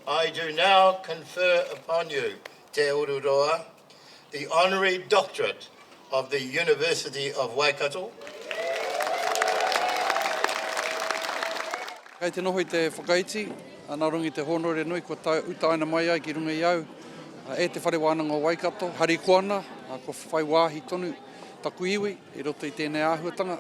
I do now confer upon you, Te Ururoa, the Honorary Doctorate of the University of Waikato. Kei te noho i te whakaiti a Narongi Te Hōnore Nui kua utaina mai ai ki runga i au e Te Whare Wānanga o Waikato, harikoana, kua whai wāhi tonu taku iwi. I roto i tēnei āhuatanga,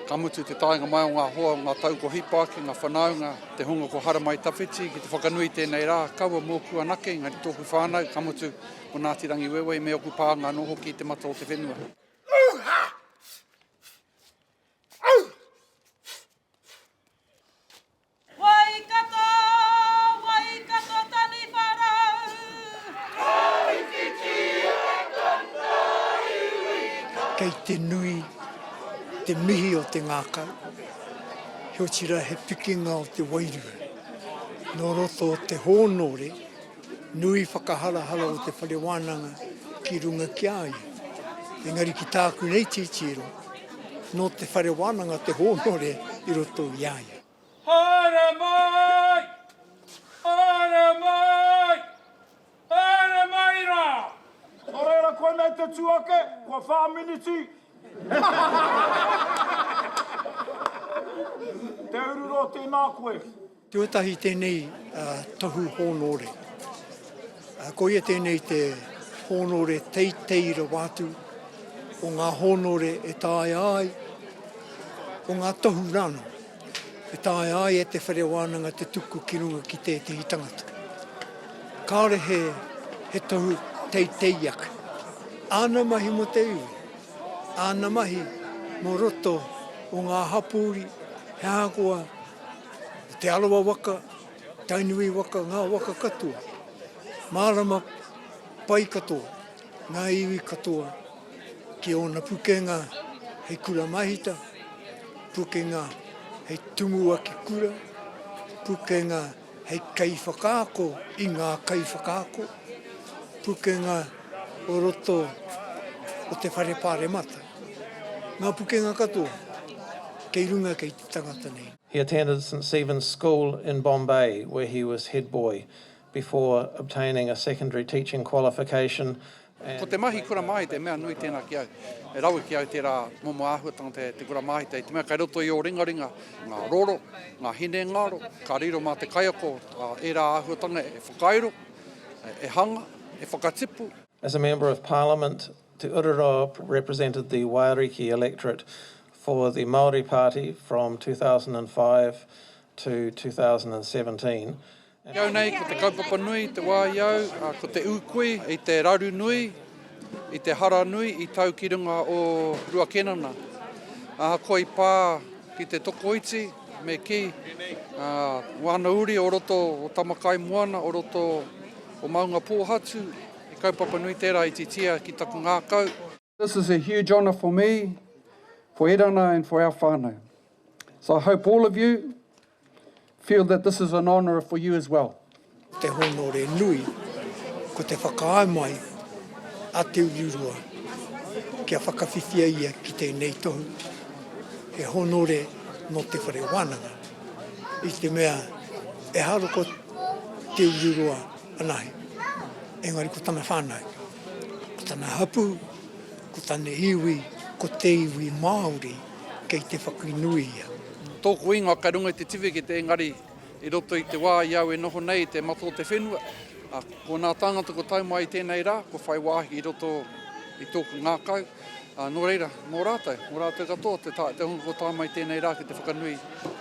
ka mutu te taenga mai o ngā hoa, o ngā tau ko Hipa ki ngā whanaunga, te hunga ko Haramai Tawhiti ki te whakanui i tēnei rā, kaua mōku anake, engari tōku whānau, ka mutu ko Ngāti Rangiwewehi me ōku pānga anō hoki i te mata o te whenua. Waikato, Waikato taniwha rau. Kōwhitiwhiti e tana iwi kau. Kei te nui te mihi o te ngākau, he otirā he pikinga o te wairua. Nō roto o te hōnore nui whakaharahara o te whare wānanga ki runga ki a ia. Engari ki tāku nei titiro, nō te whare wānanga te hōnore i roto i a ia. Haere mai! Haere mai! Haere mai ra! No reira koinei te tu ake, kua wha miniti. Te uru ro tena koe. Tuatahi tenei tohu honore. Koia tēnei te hōnore teitei rawa atu o ngā hōnore e taea ai, o ngā tohu rānō, e taea ai e te whare wānanga te tuku ki runga ki tētehi tangata. Kāore he, he tohu teitei ake. Āna mahi mō te iwi, āna mahi mō roto o ngā hapori, he ahakoa, te arawa waka, Tainui waka, ngā waka katoa, mārama pai katoa ngā iwi katoa ki ōna pukenga hei kura mahita, pukenga hei tumuaki kura, pukenga hei kaiwhakaako i ngā kaiwhakaako, pukenga o roto o te whare pāremata. Ngā pukenga katoa kei runga kei te tangata nei. He attended St Stephen's School in Bombay where he was head boy before obtaining a secondary teaching qualification and Ko te mahi kura māhita he mea nui tēnā ki au. He rawe ki au tērā momo āhuatanga te, te kura māhita i te mea kei roto i ō ringaringa ngā roro, ngā hinengaro, ka riro mā te kaiako ā ērā āhuatanga e whakairo, e hanga, e whakatipu. As a Member of Parliament, Te Urura represented the Waiariki electorate for the Māori Party from 2005 to 2017 and. Ki au nei, ko te kaupapa nui i te wā i au, ko te ūkui i te raru nui, i te hara nui i tau ki runga o Rua Kenana. Ahakoa i pā ki te tokoiti, me kī, wāna uri o roto o Tamakaimoana, o roto o Maungapōhatu, he kaupapa nui tērā i titia ki taku ngākau. This is a huge honour for me, for Erana and for our whānau. So I hope all of you feel that this is an honour for you as well. Ko te hōnore nui, ko te whakaae mai a Te Urirua kia whakawhiwhia ia ki tēnei tohu. He hōnore nō te whare wānanga, i te mea ehara ko Te Urirua anahe, engari ko tana whānau. Ko tana hapū, ko tana iwi, ko te iwi Māori, kei te whakanui ia. Tōku ingoa kei runga i te tiwhikete engari i roto i te wā i au e noho nei i te mata o te whenua, ā, ko ngā tāngata kua tau mai i tēnei rā kua whai wāhi i roto i tōku ngākau. Ā, nō reira, mō rātou, mō rātou katoa, te tā, te hunga kua tae mai tēnei rā ki te whakanui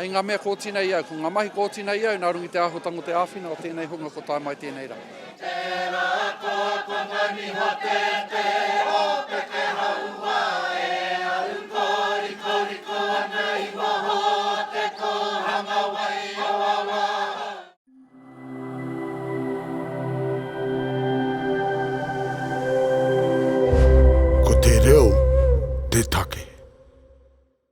i ngā mea kua oti nei i au, ko ngā mahi kua oti nei i au nā runga i te āhuatanga o te āwhina o tēnei hunga kua tae mai tēnei rā. Tērā koa kua taniha te te o te te hauā e au kōrikoriko ana i waho o te kōhanga wai o awā. Ko te reo te take.